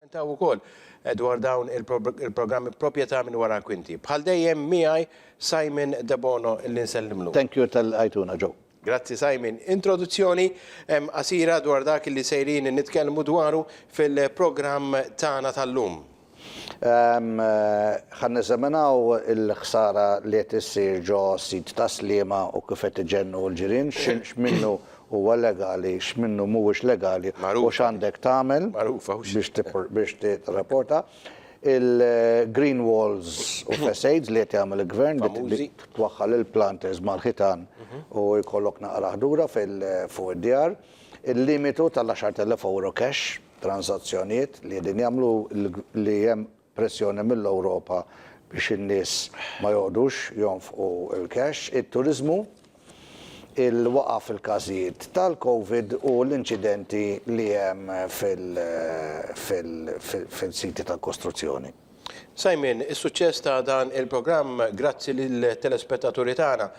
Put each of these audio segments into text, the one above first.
Jilmentaw ukoll dwar dawn il-programmi proprjetà minn wara l-kwinti. Bħal dejjem miegħi Simon Debono li nsellimlu. Thank you tal lqajtuna ġo. Grazzi Simon. Introduzzjoni qasira dwar dak li sejrin nitkellmu dwaru fil-programm tagħna tal-lum. Ħa neżaminaw il-ħsara li qed issir ġo sit tas-Sliema u kif qed iġennu l-ġirien, x'minnu huwa legali, x'minnu mhuwiex legali u x'għandek tagħmel biex tirrapporta. Il-green walls u facades li qed jagħmel il-Gvern li twaħħal il-planters mal-ħitan u jkollok naqra ħdura fuq id-djar. Il-limitu tal-10,000 ewro cash, transazzjonijiet li qegħdin jagħmlu li hemm pressjoni mill-Ewropa biex in-nies ma joqgħodux jonfqu l-cash, it-turiżmu, il-waqgħa fil-każijiet tal-Covid u l-inċidenti li hemm fil-siti tal-kostruzzjoni. Simon, is-suċċess ta' dan il-programm grazzi lit-telespettaturi tagħna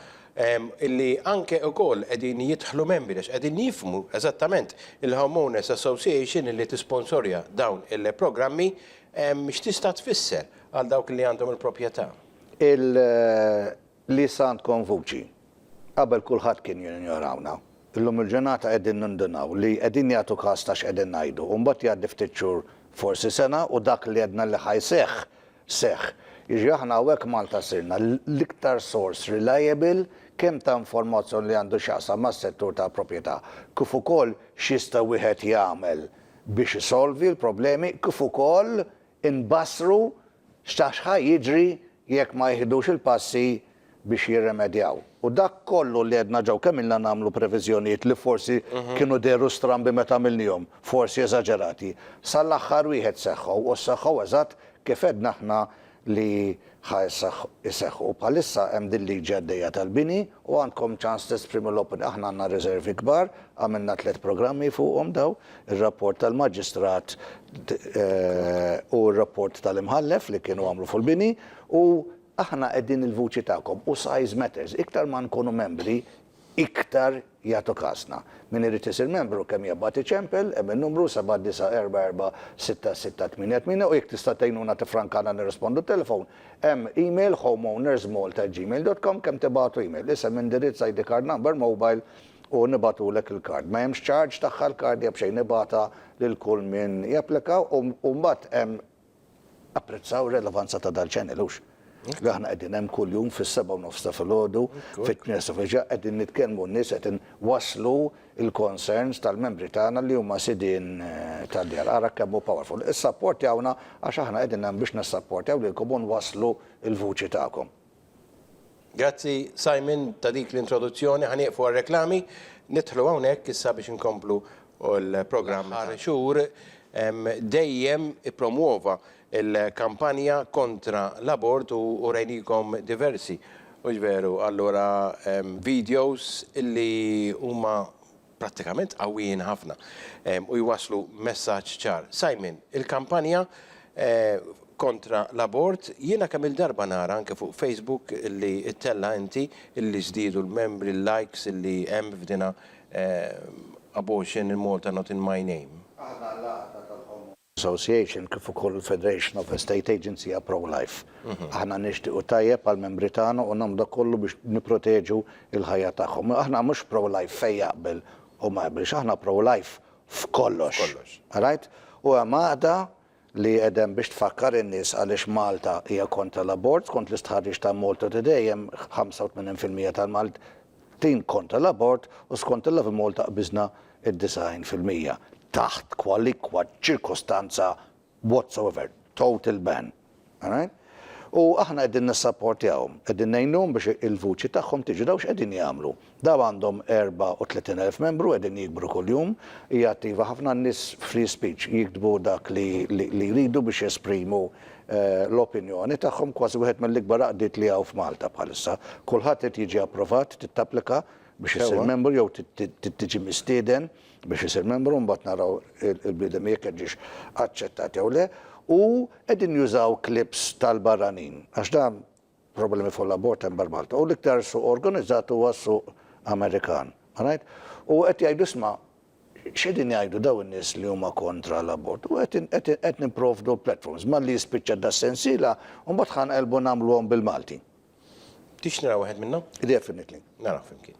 li anke wkoll qegħdin jidħlu membri għax qegħdin jifhmu eżattament il-Homeowners Association li tisponsorja dawn il-programmi. X'tista' tfisser għal dawk li għandhom il-proprjetà? Il li issa għandkom vuċi. Qabel kulħadd kien jinjorawna. Illum il-ġurnata qegħdin nindunaw li qegħdin jagħtu kas ta' x'qegħdin ngħidu u mbagħad jgħaddi ftit xhur, forsi sena u dak li għedna li ħa jseħħ, seħħ. Jiġri aħna hawnhekk Malta sirna l-iktar sors reliable kemm ta' informazzjoni li għandu x'jaqsam mas-settur tal-proprjetà kif ukoll x'jista' wieħed jagħmel biex isolvi l-problemi kif ukoll inbassru x'ta' x'ħa jiġri jekk ma jiħdux il-passi biex jirrimedjaw. U dak kollu li għedna ġew kemm ilna nagħmlu previżjonijiet li forsi kienu dehru strambi meta għamilniehom, forsi eżaġerati, sal-aħħar wieħed seħħu u sseħħu eżatt kif għedna aħna li ħa jseħħu. Bħalissa hemm din liġi għaddejja tal-bini u għandkom ċans tesprimu l-opinjoni. Aħna għandna riservi kbar, għamilna tliet programmi fuqhom dawn, ir-rapport tal-Maġistrat u r-rapport tal-Imħallef li kienu għamlu fuq il-bini u aħna qegħdin il-vuċi tagħkom u size matters. Iktar ma nkunu membri, iktar jagħtu kasna. Min irid isir membru kemm jabgħat iċempel hemm in-numru 79446668 u jekk tista' tgħinuna tiffrankana nirrispondu t-telefon hemm email homeownersmalta@gmail.com kemm tibagħtu email isem indirizz ID card number mobile u nibagħtulek il-card ma hemmx charge tagħha l-card hija b'xejn nibgħatha lil kull min japplika u mbagħad hemm Apprezzaw ir-relevanza ta' dal-channel, hux? Li aħna qegħdin hemm kuljum fis-sebgħa u nofs ta' filgħodu, fit-tmien sa fil-ġimgħa qegħdin nitkellmu n-nies qed inwasslu l-concerns tal-membri tagħna li huma sidien tad-djar. Ara kemm hu powerful. Issapportjawna għax aħna qegħdin hemm biex nissapportjaw lilkom u nwasslu l-vuċi tagħkom. Grazzi Simon ta' dik l-introduzzjoni. Ħa nieqfu għar-reklami. Nidħlu hawnhekk issa biex inkomplu l-programm. L-aħħar xhur dejjem ippromwova l-kampanja kontra l-abort u urejnikom diversi, hux veru? Allura, videos li huma prattikament qawwijin ħafna u jwasslu messaġġ ċar. Simon, il-kampanja kontra l-abort, jiena kemm-il darba nara anke fuq Facebook li ttella' inti li żdiedu l-membri, l-likes li hemm f'dinha Abortion in Malta not in my name. Aħna l-għaqda tal-ħomor. Association kif ukoll il-Federation of Estate Agents hija pro-life. Aħna nixtiequ tajjeb għall-membri tagħna u nagħmlu dak kollu biex nipproteġu l-ħajja tagħhom. Aħna mhux pro-life fejn jaqbel u ma jaqbilx, aħna pro-life f'kollox. Alright? U hemm għaqda li qiegħda hemm biex tfakkar in-nies għaliex Malta hija kontra l-abort. Skont l-istħarriġ ta' Malta Today hemm 85% Tim kontra l-abort u skont il-Love Malta qbiżna d-90 fil-mija. Taħt kwalikwa ċirkostanza whatsoever. Total ban. Alright? U aħna qegħdin nissapportjahom. Qegħdin ngħinuhom biex il-vuċi tagħhom tiġi. Dawn x'qegħdin jagħmlu? Dawn għandhom 34 elf membru qegħdin jikbru kuljum. Hija attiva ħafna. N-nies free speech jiktbu dak li jridu biex jesprimu l-opinjoni tagħhom, kważi wieħed mill-ikbar għaqdiet li hawn f'Malta bħalissa. Kulħadd irid jiġi approvat, trid tapplika biex issir membru jew trid tiġi mistieden biex isir membru u mbagħad naraw il-bniedem jekk qed jiġix aċċettat jew le. U qegħdin jużaw clips tal-barranin għax dan problemi fuq l-abort hemm barra Malta. U l-iktar suq organizzat huwa s-suq Amerikan. All right? U qed jgħidu isma' x'qegħdin jgħidu dawn in-nies li huma kontra l-abort. U qed nipprovdu platforms. Malli jispiċċa das-sensiela, mbagħad ħa nqelbu nagħmluhom bil-Malti. Tix nara wieħed minnhom? Definitely. Naraw flimkien.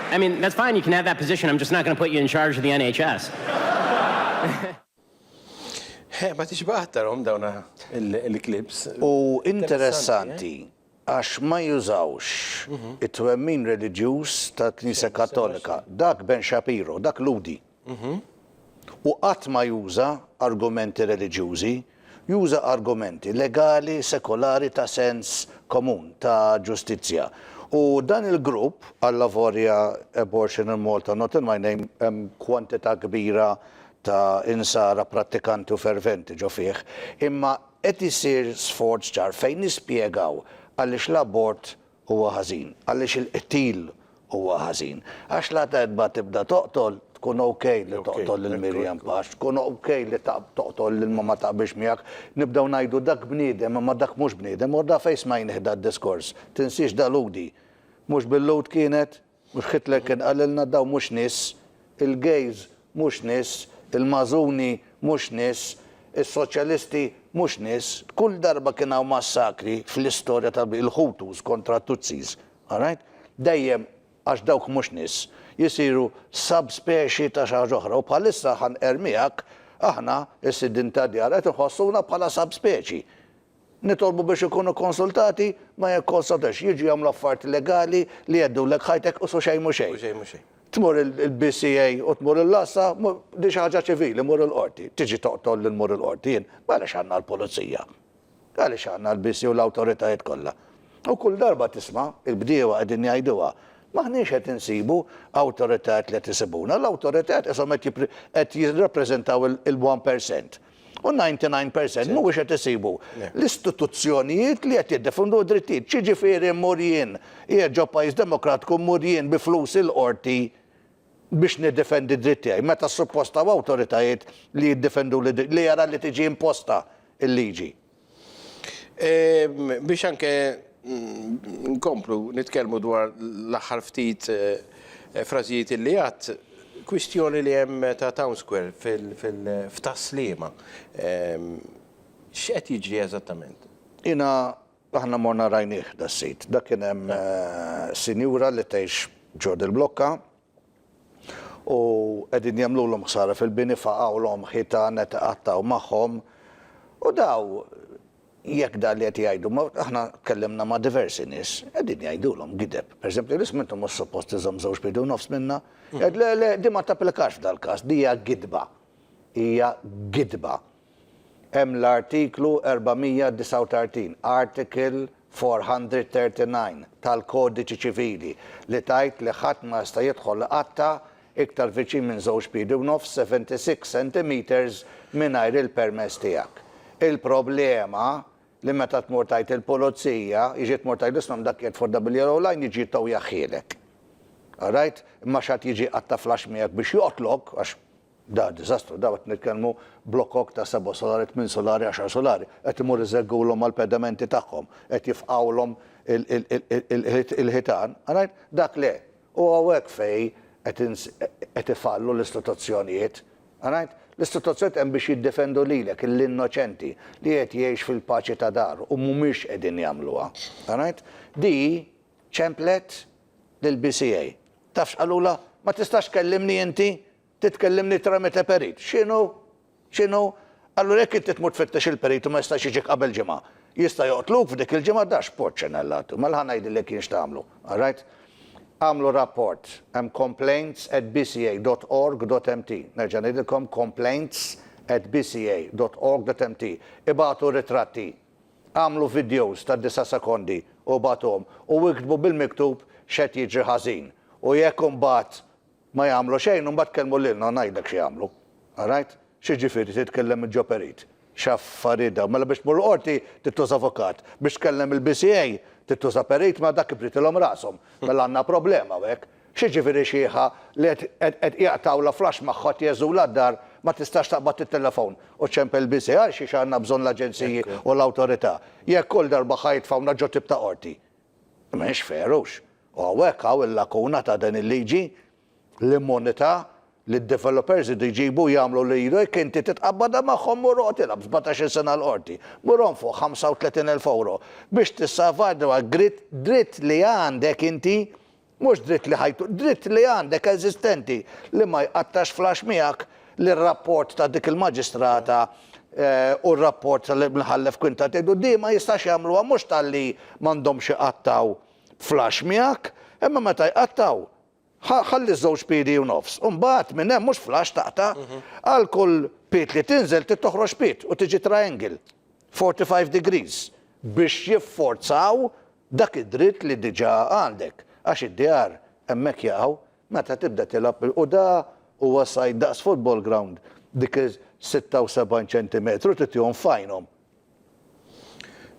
I mean, that's fine, you can have that position, I'm just not going to put you in charge of the NHS. Eh, ma tixbaq aktarhom dawn il-klips. U interessanti, għax ma jużawx mhm. it-twemmin reliġjuż ta' Knisja Kattolika. Dak Ben Shapiro, dak Ludi. u qatt ma juża argumenti reliġjużi, juża argumenti legali, sekolari ta' sens komun, ta' ġustizzja. U dan il-grupp, allavorja Abortion in Malta Not in My Name, hemm kwantità kbira ta' Insara prattikanti u ferventi ġo fih, imma qed isir sforz ċar fejn nispjegaw għaliex l-abort huwa ħażin, għaliex il-qtil huwa ħażin. Għax la darba tibda toqtol, tkun ok li toqtol lil Miriam Pax, tkun ok li toqtol lil ma ma taqbilx miegħek, nibdew ngħidu dak bniedem imma dak mhux bniedem, u da fejn smajnih dad-diskors? Tinsiex dalgħudi? Mhux bil-Lhud kienet? Mhux Hitler kien qalilna dawn mhux nies, il-gays mhux nies, il-Mażuni mhux nies, is-Soċjalisti mhux nies. Kull darba kien hawn massakri fl-istorja ta' il-Hutus kontra t-Tutsis, all right? Dejjem għax dawk mhux nies, jisiru subspeċi ta' xi ħaġa oħra u bħalissa ħa nqerr miegħek aħna s-sidien tad-djar qed inħossuna bħala subspeċi. Nitolbu biex ikunu konsultati ma jikkonsultawx, jiġu jagħmlu affarijiet legali li jgħeddulek ħajtek u su xejn mhu xejn. Tmur il-BCA u tmur il-LASA, din xi ħaġa ċivili, mur il-qorti. Tiġi toqtolni li mmur il-qorti jien? Għaliex għandna l-pulizija? Għaliex għandna l-BCA u l-awtoritajiet kollha? U kull darba tisma' il-bdiewa qegħdin jgħiduha, m'aħniex qed insibu awtoritajiet li qed isibuna, l-awtoritajiet qishom qed qed jirrappreżentaw il-one percent. u 99 percent mhuwiex qed isibu l-istituzzjonijiet li qed jiddefundu d-drittijiet. X'jiġifieri mmur jien, qiegħed ġo pajjiż demokratku mmur jien bi flusi l-qorti biex niddefendi d-dritt tiegħi meta suppost hawn awtoritajiet li jiddefenduli li jara li tiġi imposta l-liġi. Biex anke nkomplu nitkellmu dwar l-aħħar ftit frażijiet li għadt, kwistjoni li hemm ta' Town Square f'Tas-Sliema. X'qed jiġri eżattament? Jiena, aħna morna rajnieh das-sit. Dak kien hemm sinjura li tgħix ġo dil-blokka, u qegħdin jagħmlulhom ħsara fil-bini faqgħulhom ħitan qed iqattgħu magħhom u daw jekk dan li qed jgħidu ma aħna tkellimna ma' diversi nies qegħdin jgħidulhom gideb. Pereżempju l-isem intom mhux suppost iżomm żewġ piedi u nofs minnha. Jgħid le le din ma tapplikax f'dal-każ, din hija gidba. Hija gidba. Hemm l-Artiklu 439, Article 439, tal-Kodiċi Ċivili li tgħid li ħadd ma jista' jidħol iqatta' iktar viċin minn żewġ piedi u nofs, 76 centimetres, mingħajr il-permess tiegħek. Il-problema li meta tmur tgħid il-pulizija, jiġi tmur tgħid l-isma' dak qiegħed fuq WRO line jiġi jittow jaħħielek. Alright? Imma x'għad jiġi jqatta' flash miegħek biex joqtlok għax Da diżastru, da qed nitkellmu blokok ta' seba' solari, tmien solari, għaxar solari, qed imur iżeggulhom mal-pedamenti tagħhom, qed jifqgħulhom il-ħitan, rajt? Dak le! U hawnhekk fejn qed ifallu l-istituzzjonijiet, rajt? L-istituzzjonijiet hemm biex jiddefendu lilek, lill-innoċenti, li qed jgħix fil-paċi ta' daru, u mhumiex qegħdin jagħmluha, rajt? Di ċemplet lill-BCA. Taf x'qalulha? Ma tistax tkellimni inti? Trid tkellimni tramite perit. X'inhu? X'inhu? Allura jekk inti tmur tfittex il-perit u ma jistax jiġik qabel ġimgħa, jista' joqtluk f'dik il-ġimgħa? Dax porċenellatu. Mela ħa ngħidilek jien x'tagħmlu, all right? Agħmlu rapport, hemm complaints at bca dot org dot mt. Nerġa' ngħidilkom complaints at bca dot org dot mt. Ibagħtu ritratti. Agħmlu vidjows ta' disa' sekondi u ibagħtuhom u iktbu bil-miktub x'qed jiġri ħażin u jekk imbagħad ma jagħmlu xejn imbagħad kellmu lilna u ngħidlek xi jagħmlu. Alright? X'jiġifieri titkellem mill-ġo perit? X'affarijiet dawn? Mela biex tmur il-qorti trid tuża avukat. Biex tkellem il-BCA trid tuża perit? Mela dak kif ridtilhom rashom? Mela għandna problema hawnhekk. X'jiġifieri xiħa li qed qed jaqtgħu la flash magħha qed jgħeżżulha d-dar ma tistax taqbad it-telefon u ċempel biżi' għal xiex għandna bżonn l-aġenziji u l-awtorità jekk kull darba ħa jitfgħuna ġo tip ta' qorti? Mhix fair hux? U hawnhekk hawn il-lakuna ta' din il-liġi, l-immunità li d-developers jridu jġibu u jagħmlu li jridu jekk inti titqabbadha magħhom mur oqgħod ilgħab sbatax-il sena l-qorti, mur onfoq 35 elf ewro biex tissalvagwardja dritt dritt li għandek inti Mhux dritt li ħajtu, dritt li għandek eżistenti li ma jqattax flash miegħek li r-rapport ta' dik il-maġistrata u r-rapport tal-Imħallef Quinta Teddu di ma jistax jagħmluha mhux talli m'għandhomx iqattgħu flash miegħek imma meta jqattgħu ħalli ż-żewġ piedi u nofs u mbagħad minn hemm mhux flash taqta' għal kull pied li tinżel trid toħroġ pied u tiġi triangle 45 degrees biex jifforzaw Dak id-dritt li diġà għandek, għax id-djar hemmhekk jaqgħu, meta tibda tilgħab bil-quda huwa sajd daqs football ground, dik is-76 ċentimetru titihom f'għajnhom.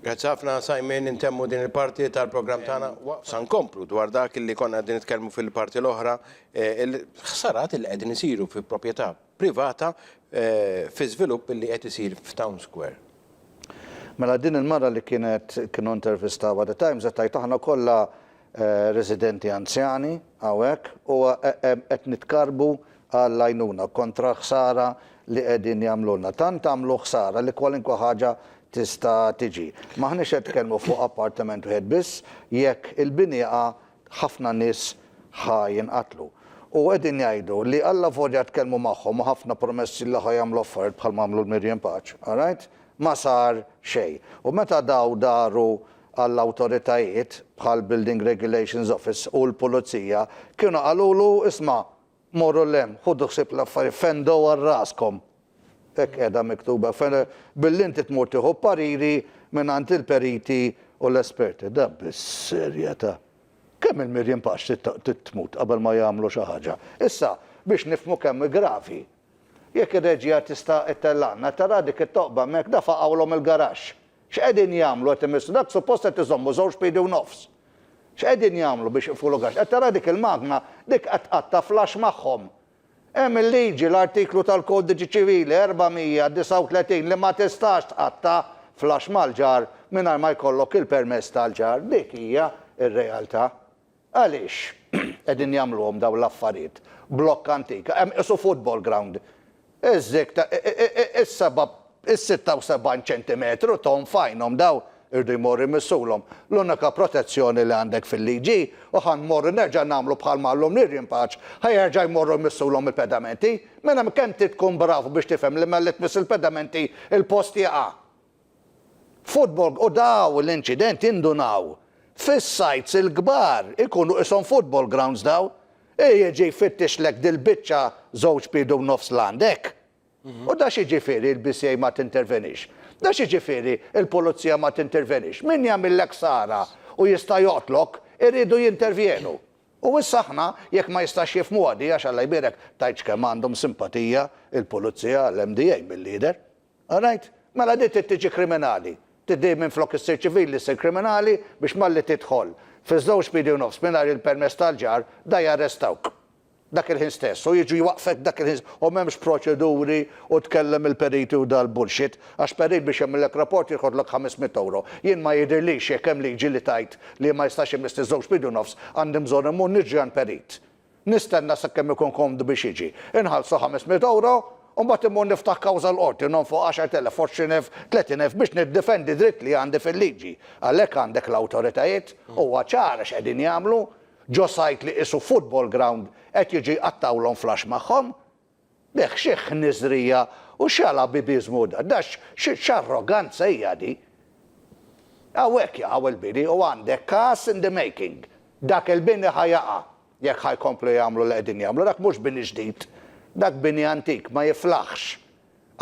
Grazzi ħafna Simon, intemmu din il-parti tal-programm tagħna u sa nkomplu dwar dak li konna qegħdin nitkellmu fil-parti l-oħra, il-ħsarat li qegħdin isiru fi proprjetà privata fi żvilupp li qed isir f'Town Square. Mela din il-mara li kienet kienu intervistawha The Times qed tgħid aħna kollha residenti anzjani hawnhekk u qed nitkarrbu għall-għajnuna kontra l-ħsara li qegħdin jagħmlulna. Tant għamlu ħsara li kwalinkwa ħaġa tista' tiġi. M'aħniex qed nitkellmu fuq appartiment wieħed biss, jekk il-bini jaqa' ħafna nies ħa jinqatlu. U qegħdin jgħidu li allavolja tkellmu magħhom u ħafna promessi li ħa jagħmlu affarijiet bħalma għamlu l-Mirjiem Paċ, alright, ma sar xejn. U meta daw daru għall-awtoritajiet bħall-Building Regulations Office u l-Pulizija, kienu qalulu isma', Morru 'l hemm, ħudu ħsieb l-affarijiet, fendu għal raskom. Hekk qiegħda miktuba, billi inti tmur tieħu ppariri mingħand il-periti u l-esperti. Da bis-serjetà! Kemm il-Mirjiem Pax trid tmut qabel ma jagħmlu xi ħaġa? Issa, biex nifhmu kemm hi gravi, jekk ir-reġija tista' ittellgħalna, tara dik it-toqba hemmhekk, da faqgħulhom il-garaxx! X'qegħdin jagħmlu qed imissu? Dak suppost qed iżommu żewġ piedi u nofs. X'qegħdin jagħmlu biex iqfu l-ugaġġ? Qed tara dik il-magna? Dik qed tqatta' flash magħhom. Hemm il-liġi, l-artiklu tal-Kodiċi Ċivili 439 li ma tistax tqatta' flash mal-ġar mingħajr ma jkollok il-permess tal-ġar. Dik hija r-realtà. Għaliex qegħdin jagħmluhom dawn l-affarijiet? Blokk antik, hemm qisu football ground. Iż-żikk ta' is-seba' is-sitta u sebgħin ċentimetru tonn f'għajnhom dawn iridu jmorru jmissulhom. L-unika protezzjoni li għandek fil-liġi hi, u ħa nmorru nerġa' nagħmlu bħal ma għallhomni r-rimpaċ, ħa jerġa' jmorru jmissulhom il-pedamenti. Mela kemm trid tkun brav biex tifhem li mela li tmiss il-pedamenti il-post jaqa'. Football u daw l-inċidenti indunaw fis-sites il-kbar ikunu qishom football grounds daw i jiġi jfittixlek dil-biċċa żewġ piedi u nofs l-għandek u da xi ġifieri l-BCA ma tintervenix? Da xi ġifieri l-pulizija ma tintervenix? Min jagħmillek ksara u jista' joqtlok iridu jintervjenu u issa aħna jekk ma jistax jifhmuha di għax Alla jbierek tgħidx kemm għandhom simpatija l-pulizija l-MDA milli jidher. All right? Mela din trid tiġi kriminali. Trid din minflok issir ċivili ssir kriminali biex malli tidħol fiż-żewġ piedi u nofs mingħajr il-permess tal-ġar, da jarrestawk dak il-ħin stess u jiġu jwaqqfek dak il-ħin u m'hemmx proċeduri u tkellem il-periti u dal-bullshit għax perit biex jagħmillek rapport jirħodlok ħames mitt ewro. Jien ma jidhirlix jekk hemm liġi li tgħid li ma jistax imiss li żewġ piedi u nofs għandi mbżonn immur niġri għand perit. Nistenna sakemm ikun komdu biex jiġi. Inħallsu ħames mitt ewro, u mbagħad immur niftaħ kawża l-qorti, nonfoq għaxart elef, għoxrin elf, tletin elf biex niddefendi dritt li għandi fil-liġi. Għalhekk għandek l-awtoritajiet, huwa ċar għax qegħdin jagħmlu ġo sajt li qisu football ground qed jiġu jqattgħulhom flax magħhom. B'hekk xi ħniżrija u x'għala bibi żmuda! Da x'arroganza hija di! Hawnhekk jaqaw il-bini u għandek każ in the making. Dak il-bini ħa jaqa' jekk ħa jkomplu jagħmlu li qegħdin jagħmlu. Dak mhux bini ġdid. Dak bini antik ma jiflaħx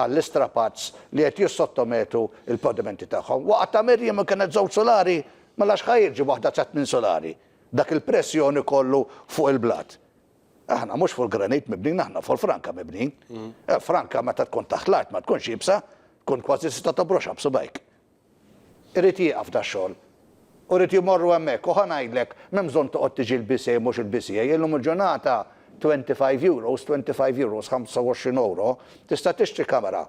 għall-istrapazz li qed jissottometu l-pavimenti tagħhom. Waqgħa ta' Mirjam u kienet żewġ sulari, mela x'ħa jiġi waħda ta' tmien sulari? Dak il-pressjoni kollu fuq il-blat. Aħna mhux fuq il-granit mibnin, aħna fuq il-franka mibnin. Eh, franka meta tkun taħt l-art ma tkunx jibsa, tkun kważi tista' tobroxha b'subajk. Irid jieqaf da xogħol. U rrid jmorru hemmhekk u ħanajdlek m'hemm bżonn toqgħod tiġi l-BCA mhux il-BCA, illum il-ġurnata 25 euros, 25 euros, 25 ewro, tista' tixtri kamera.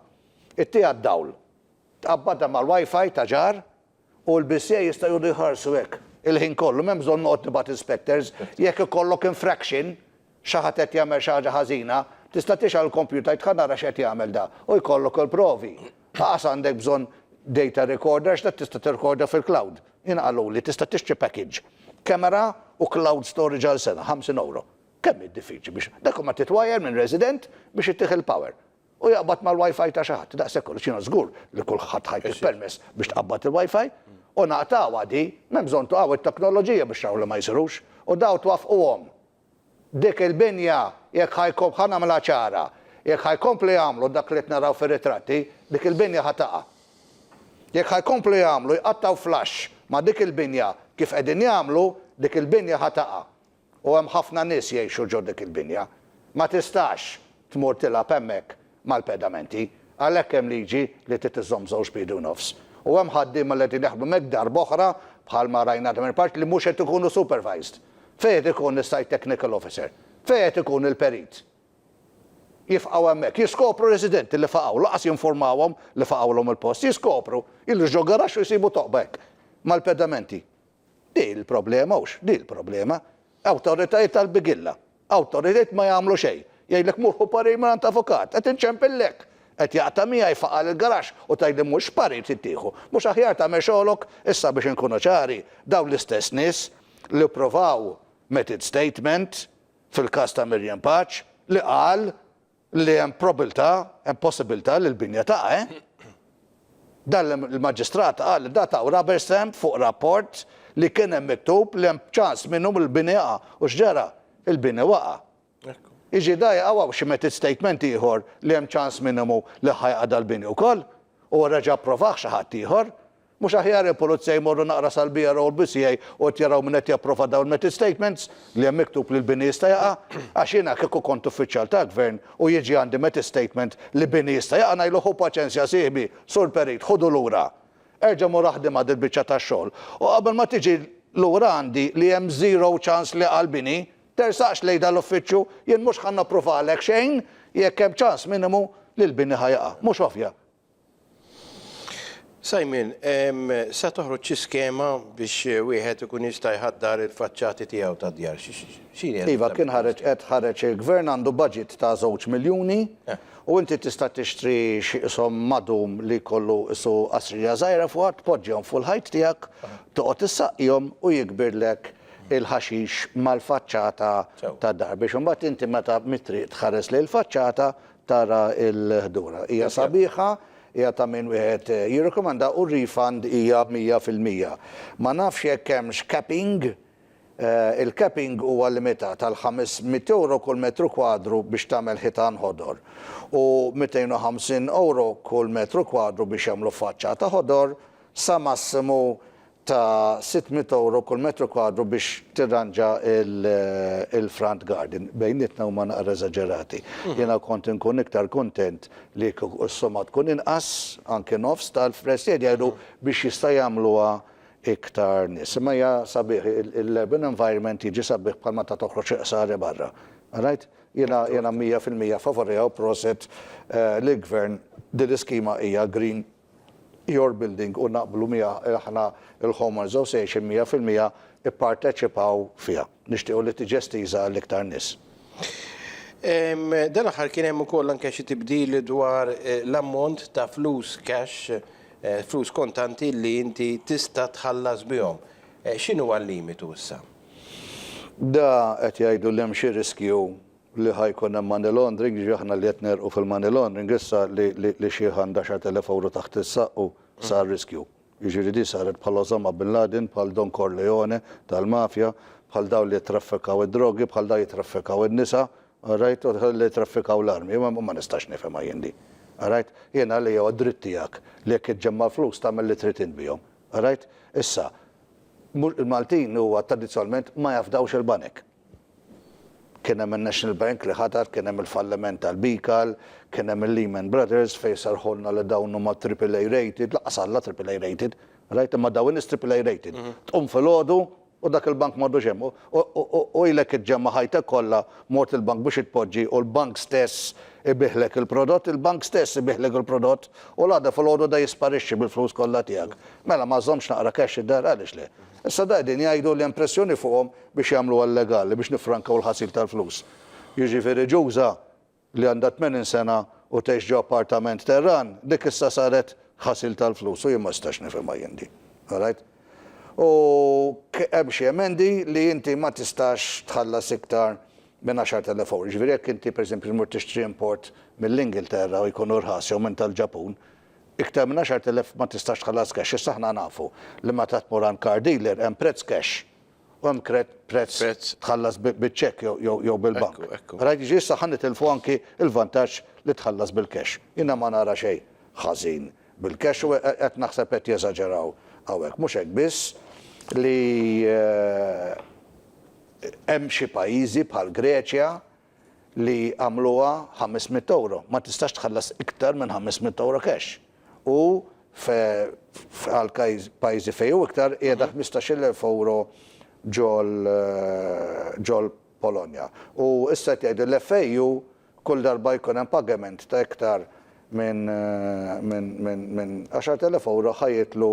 Ittiha d-dawl. Tqabbadha mal-wifi ta' ġar U l-BCA jistgħu jqogħdu jħarsu hekk il-ħin kollu, m'hemm bżonn noqgħod nibgħat inspectors. Jekk ikollok infraction, xi ħadd qed jagħmel xi ħaġa ħażina, tista' tixgħal il-kompjuter tgħid ħa nara x'qed jagħmel da, u jkollok il-provi. Qas għandek bżonn data recorder għax dak tista' tirrekorda fil-cloud. Jiena qaluli tista' tixtri package, camera u cloud storage għal sena, 50 ewro. Kemm hi diffiċli biex, dak imma titwajjar minn resident biex itih il-power. u jaqbad mal-WiFi ta' xi ħadd, daqshekk kollox, jiena żgur li kulħadd ħa jtih permess biex tqabbad il-WiFi, u naqtgħuha di, m'hemm bżonn tuqgħu it-teknoloġija biex taraw li ma jsirux, u dawn twaffquhom. Dik il-binja, jekk ħa jkom, ħa nagħmilha ċara, jekk ħa jkomplu jagħmlu dak li qed naraw fir-ritratti, dik il-binja ħa taqa'. Jekk ħa jkomplu jagħmlu, jqattgħu flash ma' dik il-binja kif qegħdin jagħmlu, dik il-binja ħa taqa'. u hemm ħafna nies jgħixu ġo dik il-binja. Ma tistax tmur tilgħab hemmhekk mal-pedamenti, għalhekk hemm liġi li trid iżżomm żewġ piedi u nofs. U hemm ħaddiema li qegħdin jaħdmu hemmhekk darb'oħra, bħalma rajna għadha minn part, li mhux qed ikunu supervised. Fejn qed ikun is-site technical officer? Fejn qed ikun il-perit? Jifqgħu hemmhekk, jiskopru residenti li faqgħu, lanqas jinfurmawhom li faqgħulhom il-post, jiskopru, jidhru ġo garaxx u jsibu toqba hekk, mal-pedamenti. Din hi l-problema, hux? Din hi l-problema. Awtoritajiet tal-bigilla. Awtoritajiet ma jagħmlu xejn. Jgħidlek mur ħu parir mingħand avukat. Qed inċempillek! Qed jaqta' miegħi faqar il-garaxx u tgħidli mhux x'parir trid tieħu. Mhux aħjar tagħmel xogħolok? Issa biex inkunu ċari, dawn l-istess nies li ppruvaw, made it statement, fil-każ ta' Miriam Paċ, li qal li hemm probiltà, hemm possibilità li l-binja taqa', eh? Dan il-Maġistrat qal li da taw rubber stamp fuq rapport li kien hemm miktub li hemm ċans minnu li l-bini jaqa'. U x'ġara? Il-bini waqa'. Jiġi da jaqa' u hawn xi method statement ieħor li hemm ċans minimu li ħa jaqa' dal-bini wkoll u reġa' approvah xi ħadd ieħor. Mhux aħjar il-pulizja jmorru naqra sal-BRO l-BCA u qed jaraw min qed japprova dawn il-method statements li hemm miktub li l-bini jista' jaqa'? Għax jiena kieku kont uffiċjal tal-Gvern u jiġi għandi method statement li bini jista' jaqa' ngħidlu ħu paċenzja sieħbi, Sur Perit, ħudu lura. Erġa' mur aħdimha dil-biċċa tax-xogħol u qabel ma tiġi lura għandi li hemm zero ċans li jaqa' l-bini, tersaqx lejn dan l-uffiċċju, jien mhux ħa napprovalek xejn jekk hemm ċans minimu li l-bini ħa jaqa'. Mhux ovvja? Simon, sa toħroġ xi skema biex wieħed ikun jista' jħaddar il-faċċati tiegħu tad-djar? X'inhi? Iva, kien ħareġ, qed ħareġ il-Gvern għandu budget ta' żewġ miljuni u inti tista' tixtri xi qishom madum li jkollu qisu qasrija żgħira fuqha, tpoġġihom fuq il-ħajt tiegħek, toqgħod issaqjhom u jikbirlek il-ħaxix mal-faċċata tad-dar biex imbagħad inti meta mit-triq tħares lejn il-faċċata Tara l-ħdura. Hija sabiħa, hija ta' min wieħed jirrekomanda u r-refund hija mija fil-mija. Ma nafx jekk hemmx capping, il-capping huwa limitat għal ħames mitt ewro kull metru kwadru biex tagħmel ħitan ħodor u mitejn u ħamsin ewro kull metru kwadru biex jagħmlu faċċata ħodor sa massimu ta' sitt mitt ewro kull metru kwadru biex tirranġa l-front garden. Bejnietna huma naqra eżaġerati. Jiena kont inkun iktar kuntent li kieku s-somma tkun inqas, anki nofs tal-fless jgħid jgħidu biex jista' jagħmluha iktar nies. Imma hija sabiħ l-urban environment jiġi sabiħ bħal meta toħroġ iqsar barra. Rajt? Jiena jiena mija fil-mija favorija u proset lill-Gvern. Din l-iskema hija green. Your Building u naqblu miegħha li aħna l-Home Association mija fil-mija pparteċipaw fiha. Nixtiequ li tiġi estiża għall-iktar nies. Dan l-aħħar kien hemm ukoll anke xi tibdil dwar l-ammont ta' flus cash, flus kontanti li inti tista' tħallas bihom. X'inhuwa l-limitu issa? Da qed jgħidu li hemm xi riskju li ħa jkun hemm money laundering, jiġifieri aħna li qed negħrqu fil-money laundering issa li xiħ għand għaxart elef ewro taħt is-saqq u sar riskju. Jiġifieri din saret bħal Osama Bin Laden, bħal Don Corleone tal-mafja, bħal dawn li jittraffikaw id-drogi, bħal dawn jittraffikaw in-nisa, orajt, u li jittraffikaw l-armi. Ma nistax nifhimha jien din. Orajt? Jien għalija huwa dritt tiegħek li jekk iġġemma' l-flus tagħmel li trid int bihom. Orajt? Issa, il-Maltin huwa tradizzjonalment ma jafdawx il-banek. Kien hemm in-National Bank li ħatar, kien hemm il-falliment tal-BICAL, kien hemm il-Lehman Brothers fejn serrħulna li dawn huma triple A rated, lanqas Alla triple A rated, rajt imma daw in-nies triple A rated. Tqum filgħodu u dak il-bank m'għadux hemm u ilek iġġemma' ħajtek kollha mort il-bank biex itpoġġi u l-bank stess ibiegħlek il-prodott, il-bank stess ibiegħlek il-prodott u l-għada filgħodu da jisparixxi bil-flus kollha tiegħek. Mela ma żżommx naqra cash id-dar, għaliex le? Issa da qegħdin jgħidu li hemm pressjoni fuqhom biex jagħmluha llegali biex niffrankaw il-ħasil tal-flus. Jiġifieri Ġuża li għandha tmenin sena u tgħix ġo appartament terran, dik issa saret ħasil tal-flus u jien ma nistax nifhimha jien din. All right? U hemm xi emendi li inti ma tistax tħallas iktar minn 10,000 ewro. Jiġifieri jekk inti pereżempju tmur tixtri import mill-Ingilterra u jkun irħas jew minn tal-Ġapun, iktar minn 10,000 ma tistax tħallas cash. Issa aħna nafu li meta tmur għand car dealer hemm prezz cash u hemm prezz tħallas biċ-ċekk jew bil-bank. Rajt jiġri issa ħa nitilfu anki l-vantaġġ li tħallas bil-cash. Jiena ma nara xejn ħażin bil-cash u qed naħseb qed jeżaġeraw hawnhekk. Mhux hekk biss li hemm xi pajjiżi bħall-Greċja li għamluha ħames mitt ewro. Ma tistax tħallas iktar minn ħames mitt ewro cash. U f' għal pajjiżi fejn hu iktar qiegħda ħmistax-il elf ewro ġol ġol Polonja. U issa qed jgħidu l FAU kull darba jkun hemm pagament ta' iktar minn minn minn minn għaxart elef ewro ħa jitlu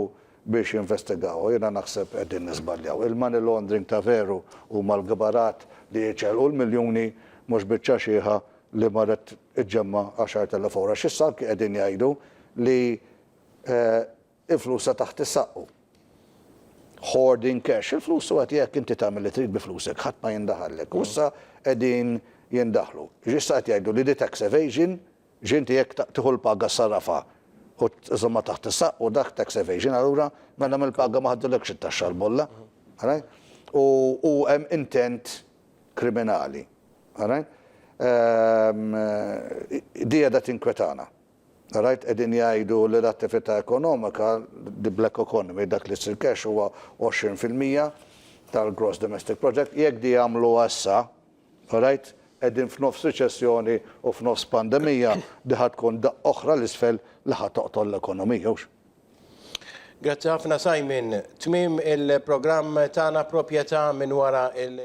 biex jinvestigawha. Jiena naħseb qegħdin niżbaljaw. Il-money laundering ta' veru huma l-kbarat li jiċċelqu l-miljuni mhux biċċa xiħa li marret iġġemma' għaxart elef ewro. Għax issa anki qegħdin jgħidu li il-flus ta' taħt is-saqqu. Hoarding cash. Il-flus u għati hekk inti tagħmel li trid bi flusek, ħadd ma jindaħallek. U issa qegħdin jindaħlu. Issa qed jgħidu li di tax evasion X'inti jekk tieħu l-paga ssarrafha u żżommha taħt is-saqq u dak tax evasion allura mela mill-paga ma ħadulekx it-taxxa l-bolla. Alright? U u hemm intent kriminali. Alright? Ehm di qiegħda tinkwetana. Alright? Qegħdin jgħidu li l-attività ekonomika, the black economy, dak li jsir cash huwa 20 fil-mija tal-gross domestic project, jekk di jagħmluha issa Alright, qegħdin f'nofs riċessjoni u f'nofs pandemija, di ħa tkun daqqa oħra 'l isfel li ħa toqtol l-ekonomija, hux? Grazzi ħafna Simon. Tmiem il-programm tagħna Proprjetà minn wara l.